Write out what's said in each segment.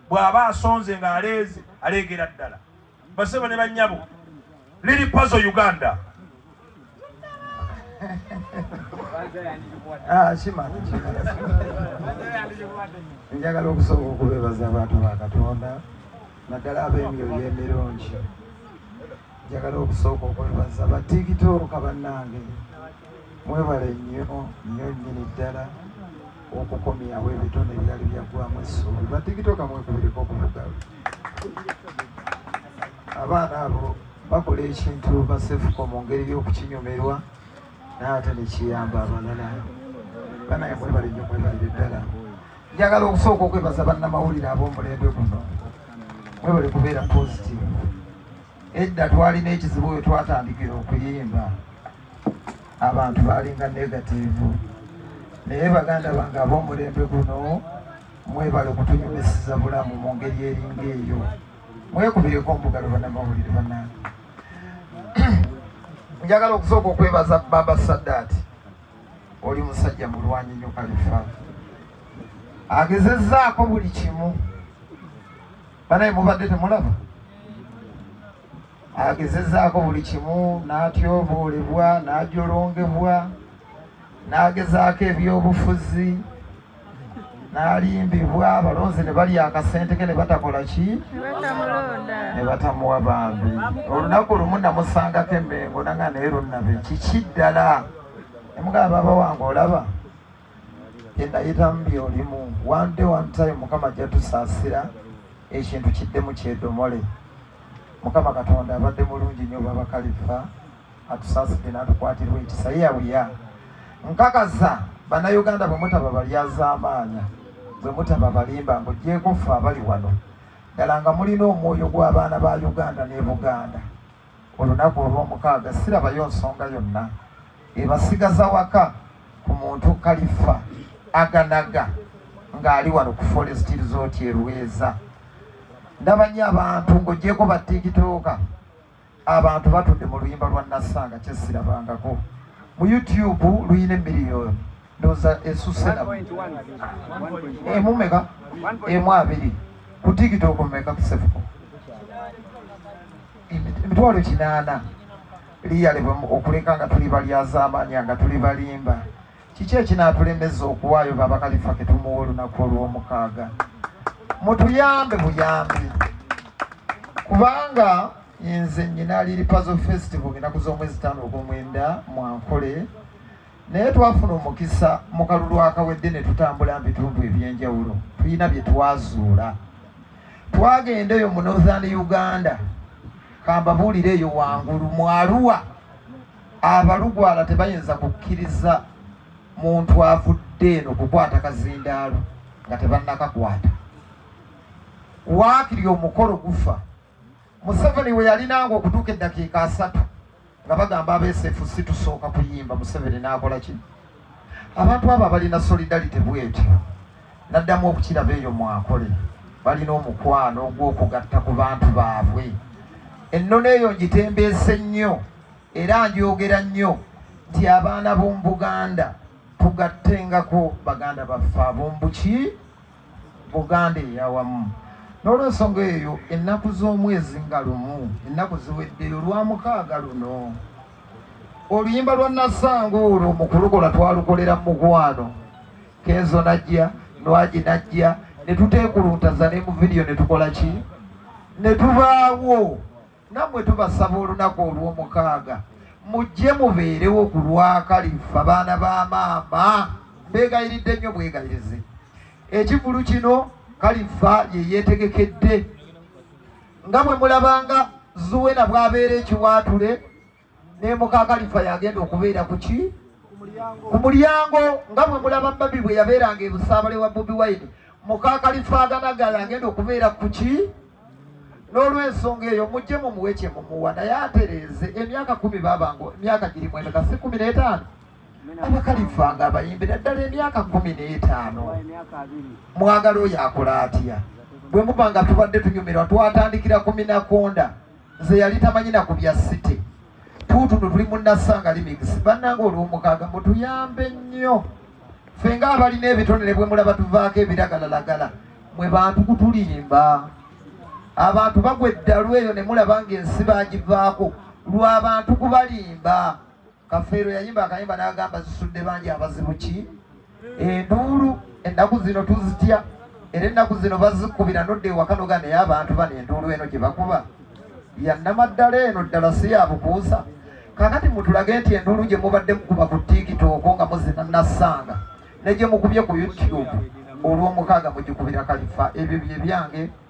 bw'aba asonze ng'aleeze aleegera ddala basebo ne bannyabo liri pazo uganda ah, njagala okusooka okubeebaza abantu ba katonda naddala ab'emyoyo emirungi njagala okusooka okwebaza batikitooka bannange mwebale nnyo nnyo nnyini ddala okukomyawo ebitone ebyali byaggwamu essuubi batikitooka mwekubireko okuvuga abaana abo bakola ekintu basefuko mu ngeri y'okukinyumirwa naye ate nekiyamba abalala banaye mwebale nnyo mwebalire ddala njagala okusooka okwebaza bannamawulire ab'omulembe guno mwebale kubeera positive Edda twalina ekizibu we twatandikira okuyimba, abantu baalinga negatiivu, naye baganda bange ab'omulembe guno mwebale okutunyumisiza bulamu mu ngeri eringa eyo. Mwekubireko omugalo bannamawulire bannange. Njagala okusooka okwebaza Baba Saddaati, oli musajja mulwanyi nnyo Kalifa, agezezzaako buli kimu banaye mubadde temulaba agezezaako buli kimu n'atyoboolebwa n'ajolongebwa n'agezaako ebyobufuzi n'alimbibwa abalonzi ne balya akasente ke ne batakola ki ne batamuwa bambi olunaku lumu namusangako emengo nanga naye lunnabe kiki ddala emugamba baba wange olaba enayitamu byolimu one day one time mukama ajja tusaasira ekintu kidde mu kyedomole mukama katonda abadde mulungi nnyo baba kalifa atusaasidde n'atukwatirwa ekisa ye yawuya nkakasa bannayuganda bwe mutaba balyazaamaanya bwe mutaba balimba ng'ogyeko ffe abali wano ddala nga mulina omwoyo gw'abaana ba uganda ne buganda olunaku olw'omukaaga sirabayo nsonga yonna ebasigaza waka ku muntu kalifa aganaga ng'ali wano ku forest resort erweza ndabanye abantu ng'ogyeko ba tikitoka abantu batudde mu luyimba lwa nassanga kyesirabangako mu youtube luyina emiliyoni ndoza esuse na emu meka emu abiri ku tiktok meka kusefuko emitwalo kinaana liyalibwa okuleka nga tuli balyazaamaanya nga tuli balimba kiki ekinaatulemeza okuwaayo babakalifa ketumuwa olunaku olw'omukaaga mutuyambe buyambi kubanga nze nyina liri pazo festival enaku z'omwezi taano ogw'omwenda mwankole naye twafuna omukisa mu kalulu akawedde ne tutambula mu bitundu eby'enjawulo tulina bye twazuula twagenda eyo mu northern uganda kambabuulire eyo wangulu mu aluwa abalugwala tebayinza kukkiriza muntu avudde eno kukwata kazindaalo nga tebannakakwata waakiri omukolo gufa Museveni we yalinanga okutuuka eddakiika asatu nga bagamba abeesefu si tusooka kuyimba Museveni n'akola ki abantu abo abalina solidarity bwetyo naddamu okukiraba eyo mwakole balina omukwano ogw'okugatta ku bantu baabwe ennono eyo ngitembeese nnyo era njogera nnyo nti abaana b'omu buganda tugatengako baganda baffe ab'ombuki Buganda eyawamu. N'olwensonga eyo ennaku z'omwezi nga lumu ennaku ziweddeyo lwa mukaaga luno oluyimba lwa Nassanga olwo mu kulukola twalukolera mu mukwano Kenzo najja Nwagi najja ne tuteekuluntaza ne mu vidiyo ne tukola ki ne tubaawo nammwe tubasaba olunaku olw'omukaaga mujje mubeerewo ku lwakalifa baana ba maama mbeegayiridde nnyo bwegayirize ekivulu kino kalifa ye yeetegekedde nga bwe mulabanga zuwena bw'abeera ekiwaatule ne mukakalifa yagenda okubeera ku ki ku mulyango nga bwe mulaba babi bwe yabeeranga ebusaabale wa bobi wine mukakalifa aganaga yagenda okubeera ku ki n'olwensonga eyo mujje mu muwe kye mumuwa naye atereeze emyaka kumi babango emyaka giri mwendeka si kumi n'etaano abakalifa nga abayimbira ddala emyaka kumi n'etaano mwagala oyo akola atya bwe muba nga tubadde tunyumirwa twatandikira ku minakonda nze yali tamanyi na ku bya site tuutuno tuli munassanga limigisi bannanga olwomukaaga mutuyambe nnyo ffe nga abalina ebitonere bwe mulaba tuvaako ebiragalalagala mwe bantu kutulimba abantu bagwa eddalu eyo ne mulaba ng'ensi bagivaako lw'abantu kubalimba Kafeero yayimba akayimba n'agamba zisudde bangi abazibu ki enduulu ennaku zino tuzitya era ennaku zino bazikubira nodda ewaka noga naye abantu bano enduulu eno gye bakuba yannama ddala eno ddala si ya bukuusa kakati mutulage nti enduulu gye mubadde mukuba ku tikitooko nga muzina nassanga ne gye mukubye ku youtube olw'omukaaga mugikubira kalifa ebyo bye byange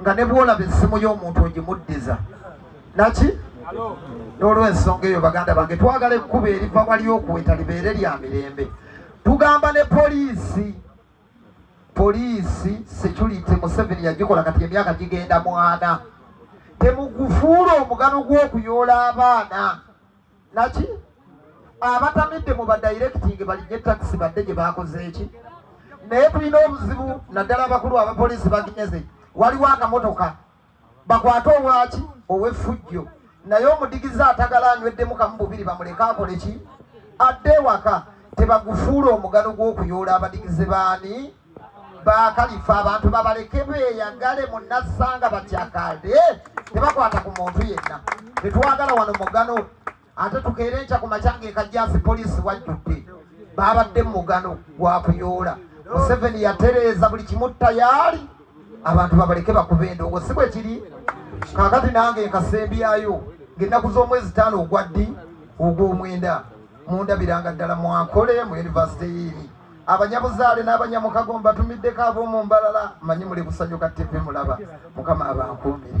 nga ne bwolaba essimu y'omuntu ogimuddiza naki n'olwensonga eyo baganda bange twagala ekkuba eriva wali okuweta libeere lya mirembe tugamba ne poliisi poliisi security museveni yagikola kati emyaka gigenda mwana temugufuula omugano gw'okuyoola abaana naki abatamidde mu badirectinge balinye takisi badde gye bakoze eki naye tulina obuzibu naddala abakulu abapoliisi baginyeze waliwo akamotoka bakwate owaki owefujjo naye omudigizi atagala anyweddemu kamu bubiri bamuleke akole ki adde ewaka tebagufuula omugano gw'okuyoola abadigize baani bakalifa abantu babaleke beyagale munassanga batyakade tebakwata ku muntu yenna tetwagala wano mugano ate tukeere nkya ku makyanga ekajasi poliisi wajjudde babadde mugano gwakuyoola museveni yatereeza buli kimu tayaali abantu babaleke bakuba endongo si bwe kiri kakati nange nkasembyayo ngaennaku z'omwezi taano ogwaddi ogw'omwenda mundabiranga ddala mwakole mu yunivasite yiini abanyabuzaale n'abanyamukago mbatumiddeko ab'omu mbalala manyi muli busanyuka ttivi mulaba mukama abankuumire